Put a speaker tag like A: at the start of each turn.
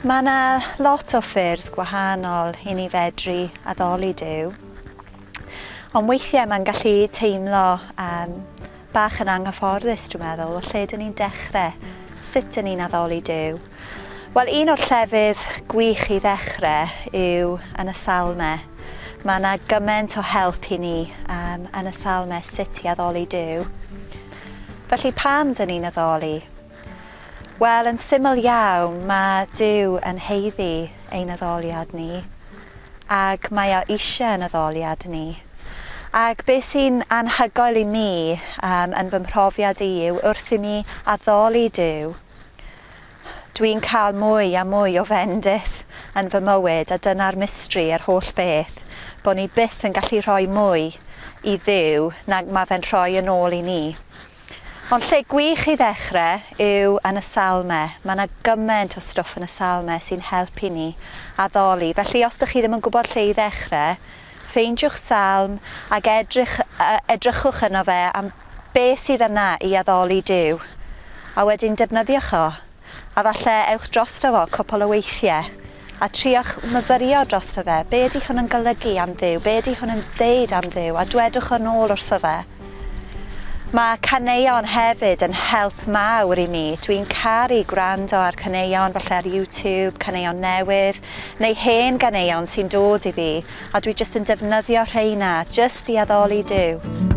A: Mae yna lot o ffyrdd gwahanol i ni fedru addoli Duw. Ond weithiau mae'n gallu teimlo um, Bach yn anghyfforddus, dwi'n meddwl, o lle dyn ni'n dechrau, sut dyn ni'n addoli Duw? Wel, un o'r llefydd gwych i ddechrau yw yn y Salmau. Mae yna gymaint o help i ni um, yn y Salmau sut i addoli Duw. Felly pam dyn ni'n addoli? Wel, yn syml iawn, mae Duw yn haeddu ein addoliad ni, ac mae o eisiau yn addoliad ni. Ac be sy'n anhygoel i mi, um, yn fy mhrofiad i, yw wrth i mi addoli Duw, dwi'n cael mwy a mwy o fendith yn fy mywyd, a dyna'r mistri yr holl beth, bod ni byth yn gallu rhoi mwy i Dduw nag mae fe'n rhoi yn ôl i ni. Ond lle gwych i ddechre yw yn y Salme. Mae 'na gyment o stwff yn y Salme sy'n helpu ni addoli. Felly os 'dych chi ddim yn gwybod lle i ddechre, ffeindiwch Salm ac edrych, edrychwch yno fe am be sydd yna i addoli Duw, a wedyn defnyddiwch o. A falle ewch drosto fo cwpwl o weithie, a triwch myfyrio drosto fe, be ydy hwn yn golygu am Dduw, be ydy hwn yn ddeud am Dduw, a dwedwch o nôl wrtho fe. Mae caneuon hefyd yn help mawr i mi, dwi'n caru gwrando ar caneuon, falle ar YouTube, caneuon newydd, neu hen ganeuon sy'n dod i fi, a dwi jyst yn defnyddio rheina jyst i addoli Duw.